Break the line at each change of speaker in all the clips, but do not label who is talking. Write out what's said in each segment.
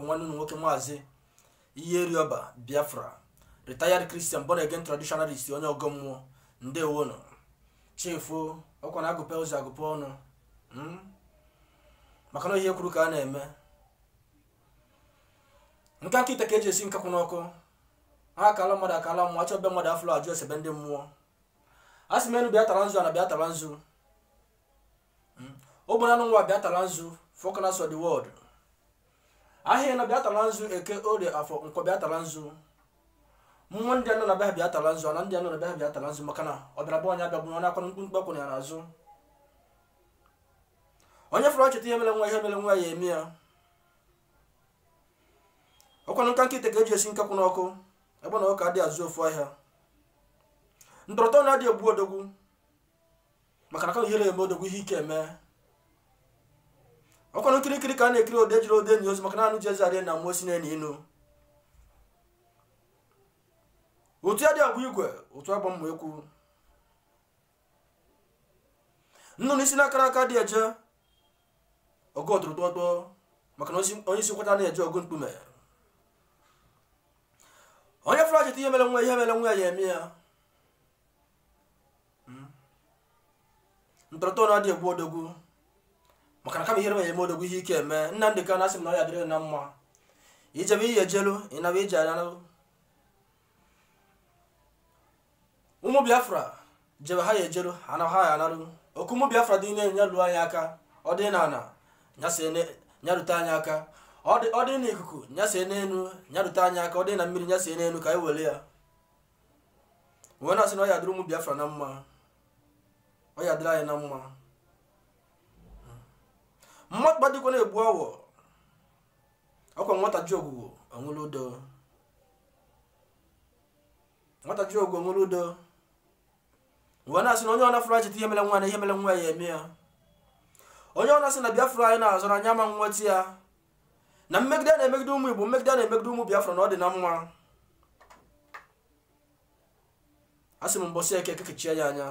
nwanne unu nwoke maazị iyierioba biafra retired christian born again traditionalist onye ọgọ mmụọ ndewonu chi fo ọkwa na agụpe ụzọ agụpe ọnụ hmm? maka na ihe kwuru ka a na-eme nke nkịta ka eji esi nkakwụ n'ọkụ ha ọkala mmadụ ọkala mmụọ achọọ be mmadụ afụrọ ajụọ ese be ndị mmụọ a sị m enu bịa tara nzu ana bịa tara nzu hmm? ogbe n'anọ nwa bịa tara nzu four corners of the world ahịa anọ bịa tara nzu eke orie afọ nkwọ bịa tara nzu mmụọ ndị anọ na bịa bịa tara nzu ana ndị anọ na bịa bịa tara nzu maka na ọ bịara be onye abịagbuna ya ọkwa mkpumkpu akwụna ya n'azụ onye fụrụ ọchịta ihe mere nwa ihe mere nwa ya eme ya ọkwanụ nka nkịta ka eji esi nkakwụ n'ọkụ egbe na ọkụkọ adịghị azụ ofu ahịa ndọrọtọ na-adị egbu odogwu maka na ka ihere eme odogwu ihe ike eme ọkwanụ nkirikiri ka a na-ekiri odo ejirọ odo eni ozu maka na anụ ji eze arị enu ma osisi na-enu inu ụtụ adị agba igwe ụtụ agba mma ekwu nnụnụ isi na-akarọ aka adị eje ọgụ ọtụrụkpọkpọ maka na onye isi nkwata na-eje ọgụ mkpume onye fụrụ achịta ihe mere nwa ihe mere nwa ya ya eme ya hmm? ntọrọtọ na ọ dị egbu odogwu maka na kama ihere ya eme odogwu ihe ike eme nnamdị kanu asị m na ọ ya-adịrị na mma i jebe i ya ejelu ị naba ị ya anaru ụmụ biafra jebe ha ya ejelu ha naa ha ya anaru oke ụmụ biafra dị n'enu nya luo anyị aka ọ dị n'ana nya rute anyị aka ọ dị n'ikuku nya see n'elu nya rute anyị aka ọ dị na mmiri nya see n'elu ka anyị were ya wee na-asị na ọ ya-adịrị ụmụ biafra na mma ọ ya-adịrị anyị na mma mmadụ gbadikwa na-egbu awọ ọkwa nwata jụ ogwugwu o were udo nwata jụ ogwugwu o were udo wee na-asị na onye ọ na-afụrụ achịta ihe mere nwa na ihe mere nwa ya eme ya onye ọ na-asị na biafra anyị na-azọ na anyị ama nweta ya na mmegide na-emegide ụmụ igbo mmegide na-emegide ụmụ biafra na ọ dị na mma asị m mbọsị eke eke chie ya anya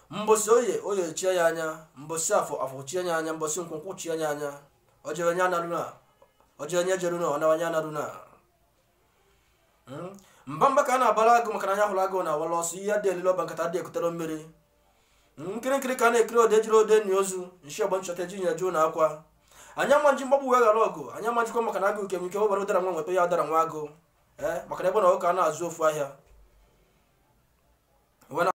mbọsị oye oye chie ya anya mbọsị afọ afọ chie ya anya mbọsị nkwọ nkwọ chie ya anya o jewe nya analuna o jewe nya ejeruna ọ nawa nya analuna hmm? mba mba ka a na-abara agụ maka na anya hụrụ agụ na awala ọsọ iyi adị elili ọba nkata adị ekutere mmiri hmm, nkirikiri ka a na-ekiri odo ejirọ odo eni ozu nshi ọgbọ nchọta eji nyeju na akwa anyị ama eji mgbagbu wee ghara ọgụ anyị ama ejikwa maka na agụ nke nwike webara ụdara nwa nweta ya ụdara nwa agụ ee eh, maka na egbe na ọkụkọ a na-azụ ofu ahịa